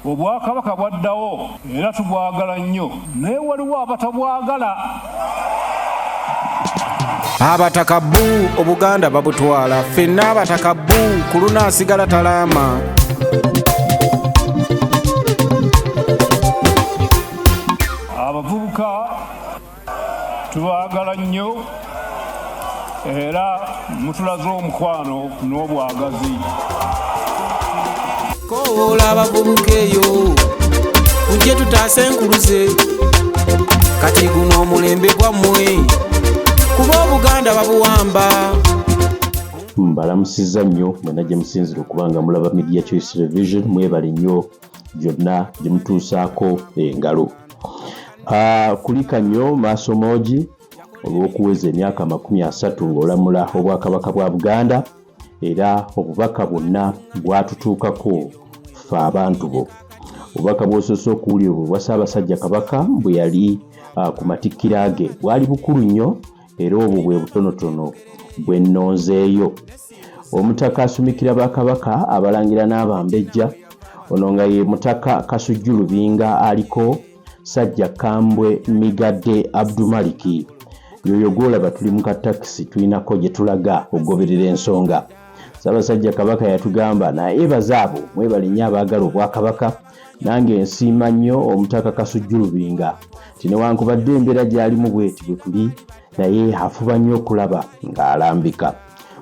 obwakabaka bwaddawo era tubwagala nnyo naye waliwo abatabwagala abataka bu obuganda babutwala fenna abataka bu ku lunaasigala talaama tubaagala nnyo era mutulaze omukwano n'obwagazi kowoola abavubuka eyo ujje tutaase enkuluze kati guno omulembe gwammwe kuba obuganda babuwamba mbalamusiza nnyo mwena gye musinzira okuba nga mulaba media choice revision mwebale nnyo gyonna gye mutuusaako engalo ah, kulika nnyo maaso moogi olw'okuweza emyaka amakumi asatu ng'olamula obwakabaka bwa buganda era obubaka bwonna bwatutuukako fe abantu bo obubaka bwosoose okuwulira obwo bwa ssaabasajja kabaka bwe yali ah, ku matikkira ge bwali bukulu nnyo era obwo bwe butonotono bwe nnonzeeyo omutaka asumikira bakabaka abalangira n'abambejja ono nga ye mutaka kasujju lubinga aliko sajja kambwe migadde abdumaliki yoyo gwolaba tuli mu katakisi tulinako gye tulaga okugoberera ensonga ssaabasajja kabaka yatugamba naye bazaabo mwebalinnyo abaagala obwakabaka nange nsiima nnyo omutaka kasujju lubinga nti newankubadde embeera gyalimu bweti bwe tuli naye afuba nnyo okulaba ng'alambika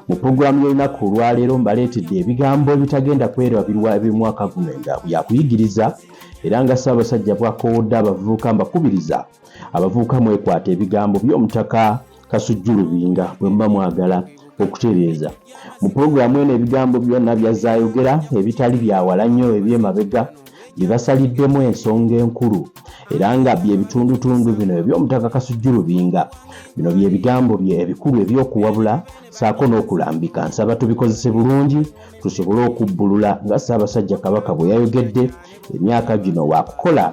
mu pulogulaamu y'olunaku olwaleero mbaleetedde ebigambo ebitagenda kwerabirwa eby'omwaka guno nga yakuyigiriza era nga ssaabasajja bwakoowodde abavubuka mbakubiriza abavubuka mwekwata ebigambo by'omutaka Kasujju Lubinga bwe muba mwagala okutereeza. Mu pulogulaamu eno ebigambo byonna byazze ayogera ebitali bya wala nnyo eby'emabega bye basaliddemu ensonga enkulu era nga bye bitundutundu bino eby'omutaka Kasujju Lubinga. Bino bye bigambo bye ebikulu eby'okuwabula ssaako n'okulambika. Nsaba tubikozese bulungi tusobole okubbulula nga Ssaabasajja Kabaka bwe yayogedde emyaka gino waakukola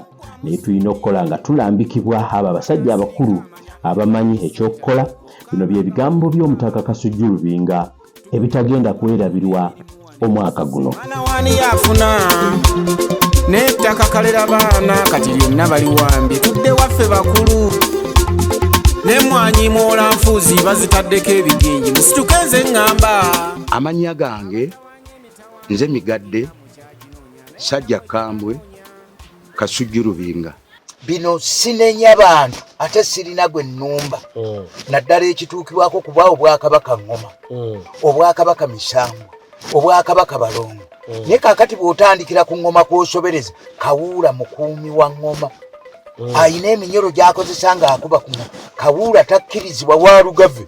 naye tulina okukola nga tulambikibwa abo abasajja abakulu abamanyi ekyokukola bino bye bigambo by'omutaka kasujju lubinga ebitagenda kwerabirwa omwaka guno n'ettaka kalera baana kati lyonna baliwambye tudde waffe bakulu nemwanyi mwola nfuuzi bazitaddeko ebigingi musituke nze ŋŋamba amannya gange nze migadde sajja kambwe kasujju lubinga bino sinenya bantu ate sirina gwe nnumba mm. naddala ekituukibwako kuba obwakabaka ngoma mm. obwakabaka misambwa obwakabaka balongo mm. naye kakati bw'otandikira ku ngoma kwosobereza kawuula mukuumi wa ngoma alina eminyolo gyakozesa ng'akuba ku kawuula takkirizibwa wa lugave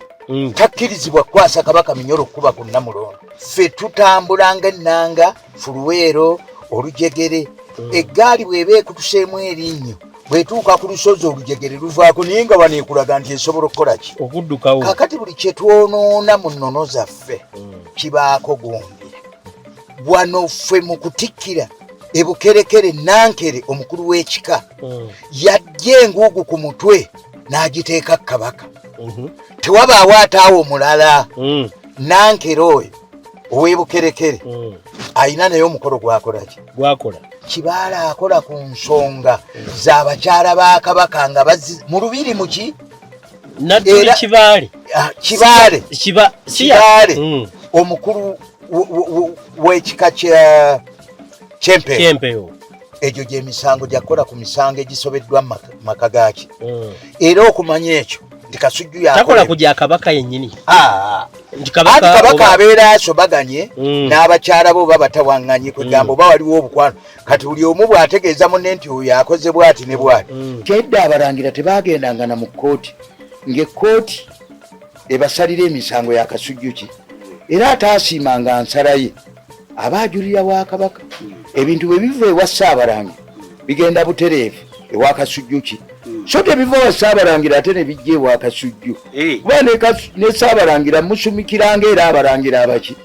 takkirizibwa kukwasa kabaka minyolo okukuba ku nnamulondo ffe tutambulanga ennanga fuluweero olujegere mm. eggaali bw'eba ekutuseemu erinnyo bwetuuka ku lusozi olujegere luvaako naye nga wano ekulaga nti esobola okukola ki okuddukawo kakati buli kye twonoona mu nnono zaffe mm. kibaako gundi wano ffe mu kutikkira ebukerekere nankere omukulu w'ekika mm. yajja enguugu ku mutwe n'agiteeka kabaka mm-hmm. tewabaawo ataawo omulala mm. nankere oyo owebukerekere mm. alina naye omukolo gwakolaki gwakola kibaala akola ku nsonga zabakyala ba kabaka nga mu lubiri muki nadduli kibaale ah, kibaale kibaale mm. omukulu wekika kyempeyo egyo gyemisango gyakukola ku misango egisobeddwa mu maka gaaki mm. era okumanya ekyo nti kasujju yakola ku gya kabaka yennyini ah. anti kabaka abeera asobaganye mm. n'abakyala bo oba batawaŋŋanye kwegamba mm. oba waliwo obukwano kati buli omu bw'ategeeza munne nti oyo akoze bwati ne bwati kyedda abalangira tebaagendangana mu kkooti ng'ekkooti ebasalira emisango ya kasujju ki era ataasiimanga nsala ye aba ajulira wa kabaka ebintu bwe biva ewa ssaabalangira bigenda butereevu ewa kasujjuki so tebiva wa ssaabalangira ate ne bijja ewa kasujju eh. kuba ne ssaabalangira musumikiranga era abalangira abaki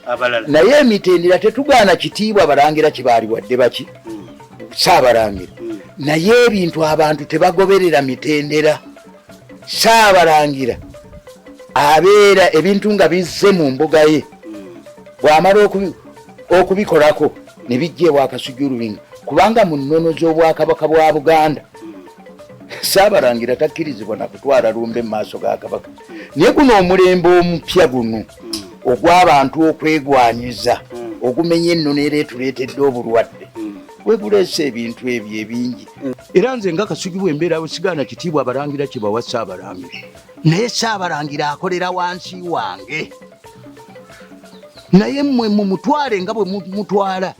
naye emitendera tetugaana kitiibwa balangira kibaali wadde baki hmm. ssaabalangira hmm. naye ebintu abantu tebagoberera mitendera saabalangira abeera ebintu nga bizze mu mbuga ye bw'amala okubikolako ne bijja ewa kasujulubinga kubanga mu nnono z'obwakabaka bwa buganda saabalangira takkirizibwa na kutwala lumbe mu maaso ga kabaka naye guno omulembe omupya guno ogw'abantu okwegwanyiza ogumenya ennono era etuleetedde obulwadde gwe guleese ebintu ebyo ebingi era nze nga kasugi bwembeera wesigaana kitiibwa abalangira kibawa saabalangira naye saabalangira akolera wansi wange naye mwe mumutwale nga bwe mutwala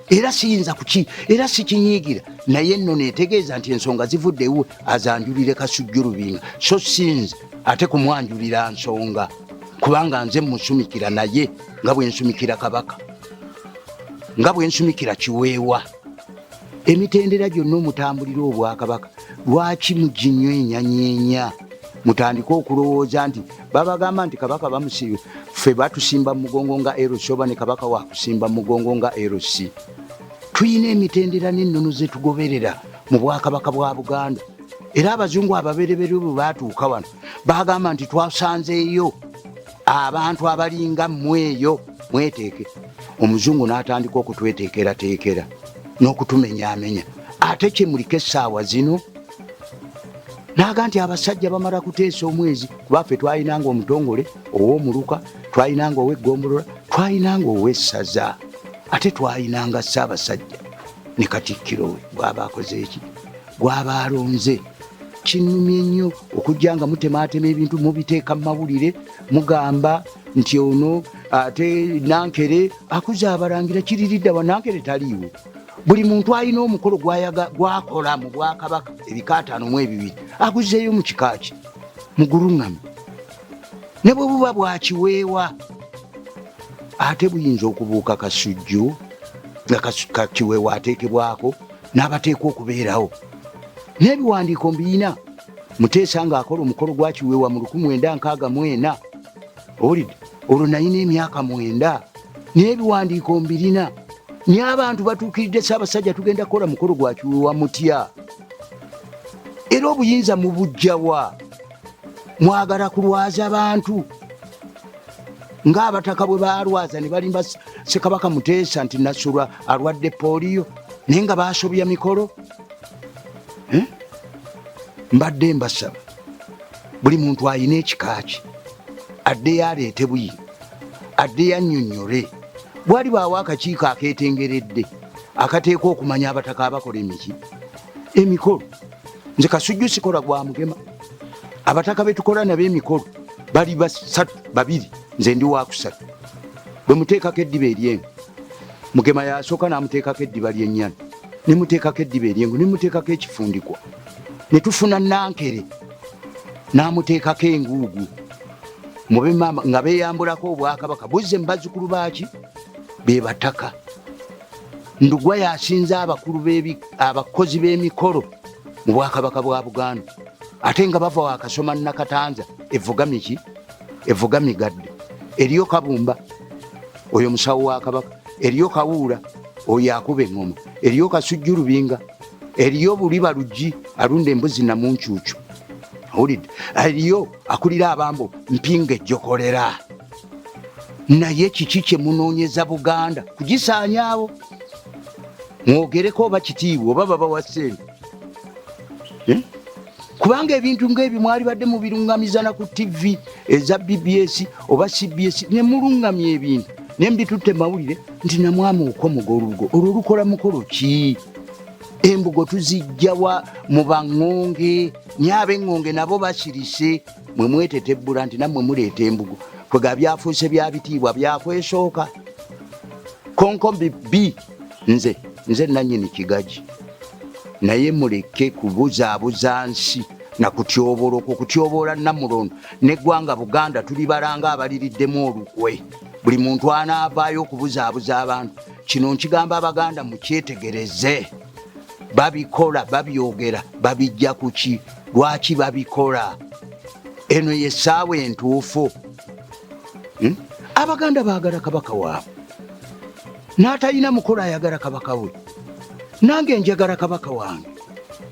era siyinza kuki era sikinyiigira naye nno netegeeza nti ensonga zivudde ewe azanjulire kasujju lubinga so sinze ate kumwanjulira nsonga kubanga nze musumikira naye nga bwensumikira kabaka nga bwensumikira kiweewa emitendera gyonna omutambulira obwakabaka lwaki muginywenyanyenya mutandike okulowooza nti babagamba nti kabaka bamusibe ffe batusimba mumugongo nga rc oba ne kabaka wakusimba mumugongo nga rc tulina emitendera n'ennono zetugoberera mu bwakabaka bwa buganda era abazungu ababereberye bwe baatuuka wano baagamba nti twasanzeeyo abantu abalinga mweyo mweteeke omuzungu n'atandika okutweteekerateekera n'okutumenyaamenya ate kyemuliko essaawa zino naaga nti abasajja bamala kuteesa omwezi kuba ffe twalinanga omutongole ow'omuluka twalinanga ow'eggombolola twalinanga ow'essaza ate twalinanga ssaabasajja ne katikkiro we bwaba akoze eki gwaba alonze kinnumye nnyo okujja nga mutemaatema ebintu mubiteeka mu mawulire mugamba nti ono ate nankere akuze abalangira kiriridda wa nankere taliiwo buli muntu alina omukolo gwakola mu bwakabaka ebikaataano mu ebibiri akuzeeyo mu kikaaki muguluŋŋame ne bwe buba bwakiweewa ate buyinza okubuuka kasujju nga kakiweewa ateekebwako n'abateekwa okubeerawo n'ebiwandiiko mbiyina muteesa ng'akola omukolo gwa kiweewa mu luku mwenda nkaaga mwena owulidde olwo nayina emyaka mwenda n'ebiwandiiko mbirina naye abantu batuukiridde saabasajja tugenda kukola mukolo gwa kiweewa mutya era obuyinza mubujjawa mwagala kulwaza bantu ngaabataka bwe balwaza ne balimba sekabaka muteesa nti nasulwa alwadde poliyo naye nga basobya mikolo eh? mbadde mbasaba buli muntu ayina ekikaaki addeyo aleete buyi addeyo annyonnyole bwali baawo akakiiko akeetengeredde akateekwa okumanya abataka abakola emiki emikolo nze kasujju sikola gwa mugema abataka betukola nabo emikolo bali basatu babiri nze ndi wakusatu bwe muteekako eddiba eryengo mugema yasooka namuteekako eddiba lyennyana ne muteekako eddiba eryengo ne muteekako ekifundikwa ne tufuna nankere namuteekako enguugu mube maama nga beyambulako obwakabaka buzze mu bazzukulu baaki be bataka Ndugwa yasinze abakulu abakozi b'emikolo mu bwakabaka bwa Buganda ate nga bava wakasoma nakatanza evuga miki evuga migadde eriyo kabumba oyo musawo wa kabaka eriyo kawuula oyo akuba eŋoma eriyo kasujju lubinga eriyo buliba luggi alunda embuzi namuncuucu awulidde eriyo akulira abambo mpinga ejjokolera naye kiki kyemunoonyeza buganda kugisaanyaawo mwogereko oba kitiibwa oba baba wa sente eh? kubanga ebintu ngaebyo mwali badde mubirungamizana ku tivi eza bbs oba cbs nemulungamya ebintu naye mbitutte mawulire nti namwama okomoga olubugo olwo lukola mukolo ki embugo tuzijjawa mu baŋŋonge nyaab'eŋŋonge nabo basirise mwe mwetetebbula nti nammwe muleeta embugu kwega byafuuse bya bitiibwa byakwesooka konkombi b nze nze nanyini kigaji naye muleke kubuzaabuza nsi nakutyoboola okwo kutyoboola namulondo neggwanga buganda tuli balanga abaliriddemu olukwe buli muntu anaavaayo okubuzaabuza abantu kino nkigamba abaganda mukyetegereze babikola babyogera babijja kuki lwaki babikola eno yesaawa entuufu hmm? abaganda bagala kabaka waabwe n'atalina mukolo ayagala kabaka we nange njagala kabaka wange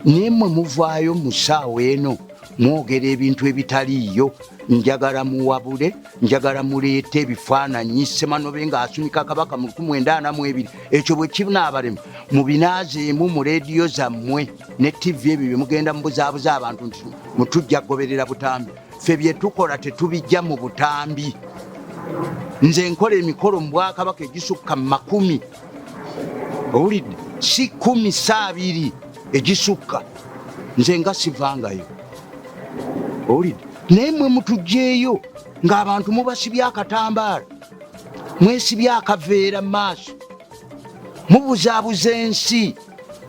naye mwe muvaayo mu saawa eno mwogera ebintu ebitaliiyo njagala muwabule njagala muleete ebifaananyi semanobe nga asunika kabaka mu 192 ekyo bwe kinaabalema mubinaazeemu mu leediyo zammwe ne tivi ebyo bye mugenda mubuzaabuza abantu nti mutujja kugoberera butambi ffe bye tukola tetubijja mu butambi nze nkola emikolo mu bwakabaka egisukka mu makumi owulidde si kumi saabiri egisukka nze nga sivangayo owulidde naye mwe mutugyeyo ng'abantu mubasibye akatambaala mwesibye akaveera mu maaso mubuzaabuza ensi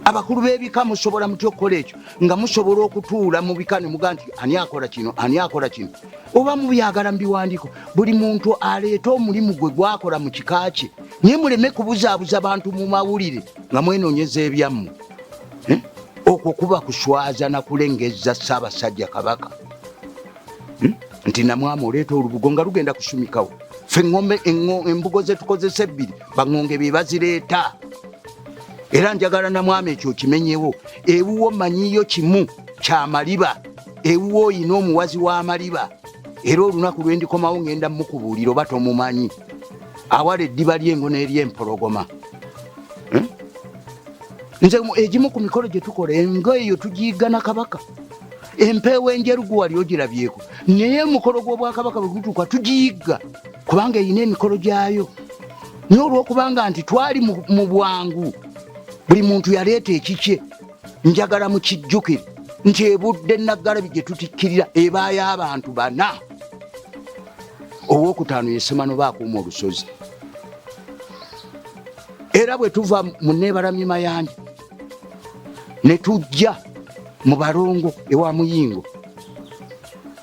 abakulu b'ebika musobola mutya okukola ekyo nga musobola okutuula mu bika ne muga nti ani akola kino ani akola kino oba mubyagala mu biwandiiko buli muntu aleeta omulimu gwe gwakola mu kika kye naye muleme kubuzaabuza bantu mu mawulire nga mwenoonyeza ebyammwe eh? okwo kuba kuswaza na kulengeza Ssaabasajja Kabaka hmm? nti namwama oleeta olubugo nga lugenda kusumikawo fe ngombe embugo zetukozesa ebbiri baŋonge be bazireeta era njagala namwama ekyo kimenyewo ewuwo manyiyo kimu kyamaliba ewuwo oyina omuwazi w'amaliba era olunaku lwendikomawo ngenda mukubuulira oba tomumanyi awala eddiba ly'engo n'eryempologoma nze egimu ku mikolo gye tukola engo eyo tugiigana kabaka empeewo enjeru guwali ogirabyeko naye omukolo gw'obwakabaka bwe gutuuka tugiyigga kubanga erina emikolo gyayo naye olw'okubanga nti twali mu bwangu buli muntu yaleeta ekikye njagala mukijjukire nti ebudde naggalabi gye tutikkirira ebaayo abantu bana owokutaano yesemano baakuuma olusozi era bwe tuva mu neebalamye mayanja ne tujja mu balongo ewa muyingo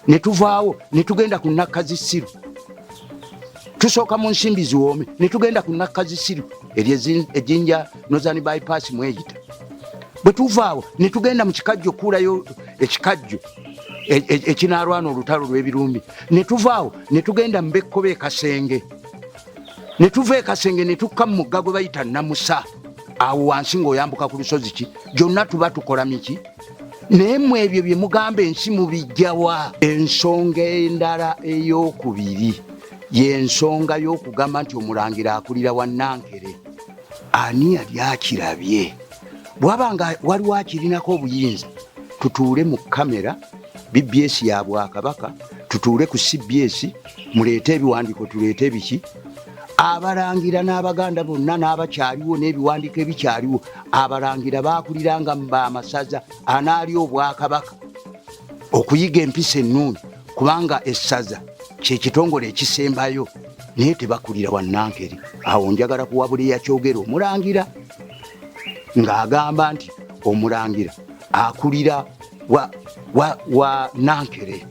ne tuvaawo ne tugenda ku nakka zisiru tusooka mu nsimbi ziwoome ne tugenda ku nakka zisiru eryo ejinja nozani bypass mweyita bwe tuvaawo ne tugenda mu kikajjo okuulayo ekikajjo e, e, ekinaalwana olutalo lw'ebirumbi ne tuvaawo ne tugenda mu bekkoba ekasenge ne tuva e kasenge ne tukka mu mugga gwe bayita namusa awo wansi ng'oyambuka ku lusozi ki gyonna tuba tukola miki naye mu ebyo bye mugamba ensi mubijjawa ensonga endala ey'okubiri y'ensonga y'okugamba nti omulangira akulira wa nankere ani yali akirabye bwaba nga waliwo akirinako obuyinza tutuule mu kamera bbs ya bwakabaka tutuule ku cbs muleete ebiwandiiko tuleete ebiki abalangira n'abaganda bonna n'abakyaliwo n'ebiwandiiko ebikyaliwo abalangira baakuliranga mu bamasaza anaali obwakabaka okuyiga empisa ennungi kubanga essaza kyekitongole ekisembayo naye tebakulira wanankeri awo njagala kuwabula eyakyogera omulangira ng'agamba nti omulangira akulira wa, wa, wa nankere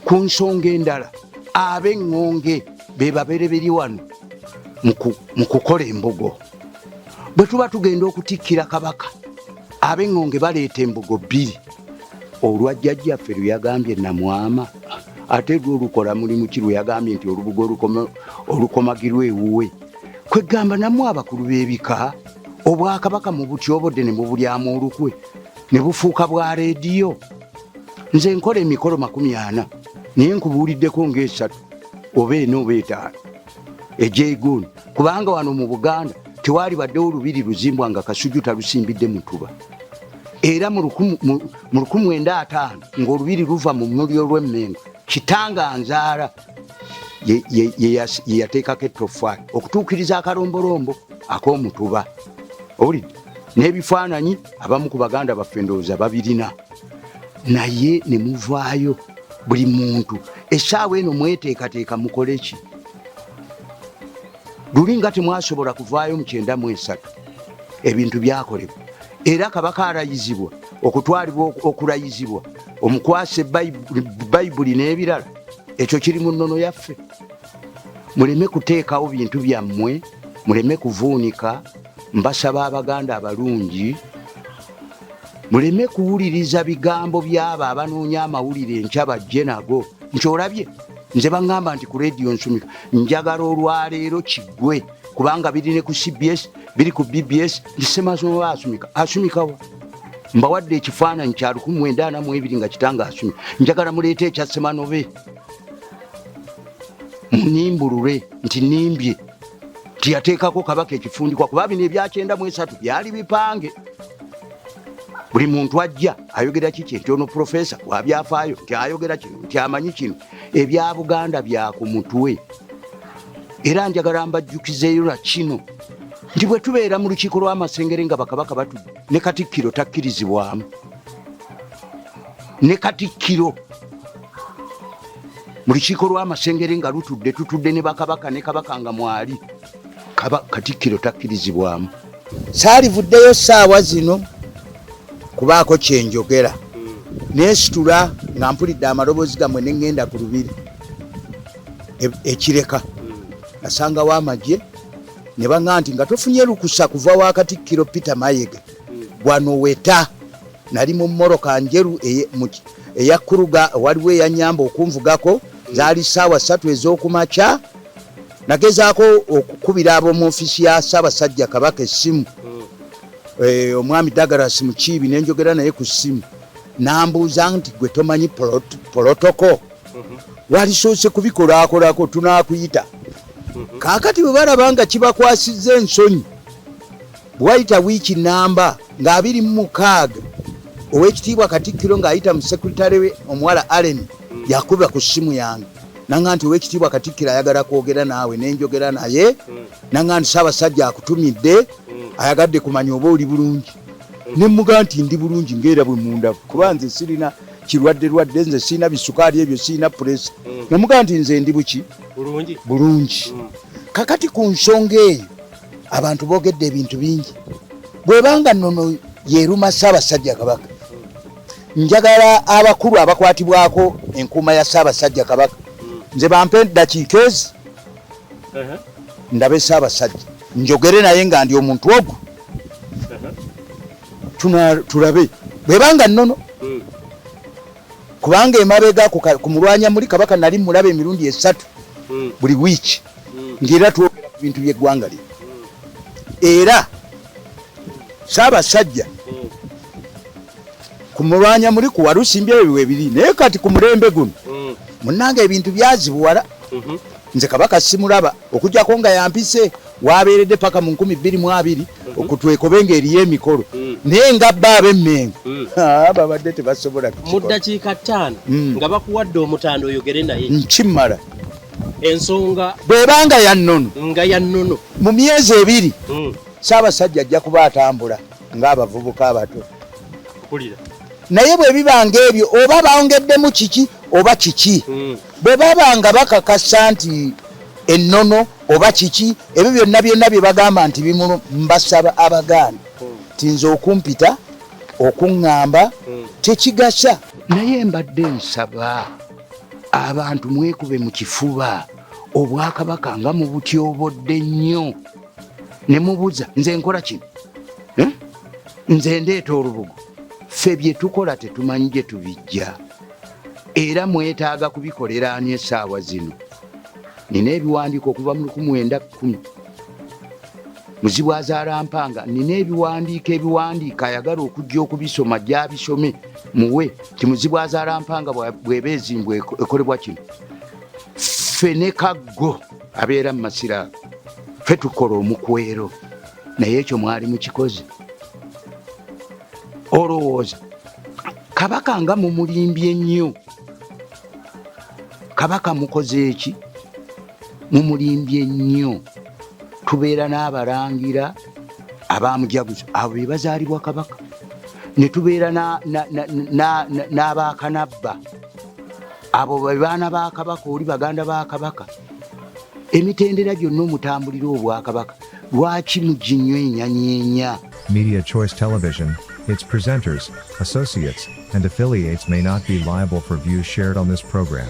ku nsonga endala ab'eŋŋonge be babereberi wano mu kukola embugo bwe tuba tugenda okutikkira kabaka ab'eŋŋonge baleeta embugo bbiri olwa jjajjaffe lwe yagambye namwama ate lwo olukola mulimu ki lwe yagambye nti olubugo olukomagirwa ewuwe kwegamba namu abakulu b'ebika obwakabaka mu butyobodde ne mubulyamu olukwe ne bufuuka bwa leediyo nze nkola emikolo makumi ana naye nkubuuliddeko ngaesatu oba ena oba etaano egyegundi kubanga wano mu buganda tewaali baddewo lubiri luzimbwa nga kasuju talusimbidde mutuba era mu 15 ngaolubiri luva mu muli olwemmengo kitanga nzaala yeyateekako ettofaali okutuukiriza akalombolombo ak'omutuba owulidde n'ebifaananyi abamu ku baganda baffe ndowooza babirina naye ne muvaayo buli muntu essaawa eno mweteekateeka mukole ki luli nga temwasobola kuvaayo mu kyenda mu esatu ebintu byakolebwa era kabaka arayizibwa okutwalibwa okurayizibwa omukwase bayibuli n'ebirala ekyo kiri mu nnono yaffe muleme kuteekawo bintu byammwe muleme kuvuunika Mbasaba Abaganda abalungi muleme kuwuliriza bigambo by'abo abanoonya amawulire enkya bajje nago nti olabye nze baŋŋamba nti ku rediyo nsumika njagala olwaleero kiggwe kubanga biri ne ku cbs biri ku bbs nti semazoba asumika asumikawa mbawadde ekifaananyi kya 19 nga kitanga asumye njagala muleeta ekyasemanobe munimbulule nti nimbye tiyateekako kabaka ekifundikwa kuba bino ebyakyenda mu esatu byali bipange buli muntu ajja ayogera kiki nti ono profesa wabyafaayo nti ayogera kino nti amanyi kino ebya buganda bya ku mutwe era njagala mbajjukizeeyo na kino nti bwe tubeera mu lukiiko lw'amasengere nga bakabaka batudde ne katikkiro takkirizibwamu ne katikkiro mu lukiiko lw'amasengere nga lutudde tutudde ne bakabaka ne kabaka nga mwali katikkiro takkirizibwamu saalivuddeyo saawa zino kubaako kyenjogera nesitula nga mpulidde amaloboozi gamwe neŋŋenda ku lubiri e, ekireka nasangawo amagye ne baŋa nti nga tofunye lukusa kuva wa katikkiro peter mayega wano weta nali mu moroka njeru eyakuruga waliwo eyanyamba okunvugako zaali saawa satu ezokumakya nagezaako okukubira ab'omu ofisi ya ssaabasajja kabaka essimu eh, omwami dagaras mukiibi nenjogera naye ku ssimu nambuuza nti gwe tomanyi polotoko mhm. walisoose kubikolakolako tunakuyita mhm. kaakati bwe balaba nga kibakwasiza ensonyi Bwayita wiiki nnamba nga abiri mu mukaaga ow'ekitiibwa Katikkiro ng'ayita mu sekuritale we omuwala Allen yakuba ku ssimu yange nanga nti ow'ekitiibwa Katikkiro ayagala kwogera naawe ne njogera naye nanga nti Ssaabasajja akutumidde ayagadde kumanya oba oli bulungi ne mmuga nti ndi bulungi ng'era bwe mundavu kuba nze sirina kirwadde lwadde nze sirina bisukaali ebyo sirina puresa namuga nti nze ndi buki bulungi kakati ku nsonga eyo abantu bogedde ebintu bingi bwebanga nono yeruma ssaabasajja kabaka njagala abakulu abakwatibwako enkuuma ya ssaabasajja kabaka nze bampe dakiika ezi ndabe ssaabasajja njogere naye nga ndi omuntu ogwo tulabe bwebanga nono hmm. kubanga emabega ku mulwanya muli kabaka nali mulaba emirundi esatu hmm. buli wiiki nti era twogera ku bintu by'eggwanga lino era ssaabasajja ku mulwanya muli ku walusimbi ebyo webiri naye kati ku mulembe guno munnanga ebintu byazibuwala mhm. nze kabaka simulaba okujjako nga yampise wabeeredde paka mu nkumi bbiri mu abiri mhm. okutwekobe nga eriyo emikolo mhm. naye nga bba abemmengo ah, babadde tebasobola mu ddakiika ttaano nga bakuwadde omutanda oyogere naye nkimala ensonga bweba nga ya nnono nga ya nnono mu myezi ebiri mm. Ssaabasajja ajja kuba atambula ng'abavubuka abato naye bwe bibanga ebyo oba baongeddemu kiki oba kiki hmm. bwe baba nga bakakasa nti ennono oba kiki ebyo byonna byonna bye bagamba nti bimulu mbasaba abagaana hmm. ti nze okumpita okuŋŋamba hmm. tekigasa naye mbadde nsaba abantu mwekube mu kifuba obwakabaka nga mubutyobodde nnyo ne mubuza nze nkola kino eh? nze ndeeta olubugo ffe bye tukola tetumanyi gye tubijja era mwetaaga kubikolera ani essaawa zino nina ebiwandiiko okuva mu 1 9 Muzibu azaala mpanga nina ebiwandiiko ebiwandiika ayagala okujja okubisoma gyabisome muwe ti muzibu azaala mpanga bweba ezimbwa ekolebwa kino ffe ne kaggo abeera mu masira fe tukola omukwero naye ekyo mwali mukikoze olowooza kabaka nga mumulimbye nnyo kabaka mukoze eki mumulimbye nnyo tubeera n'abalangira abamujaguzo abo be bazaalibwa kabaka ne tubeera n'abakanabba abo bebaana ba kabaka oli baganda ba kabaka emitendera gyonna omutambulira obwakabaka lwaki muginywa enyanyenya media choice television its presenters associates and affiliates may not be liable for views shared on this program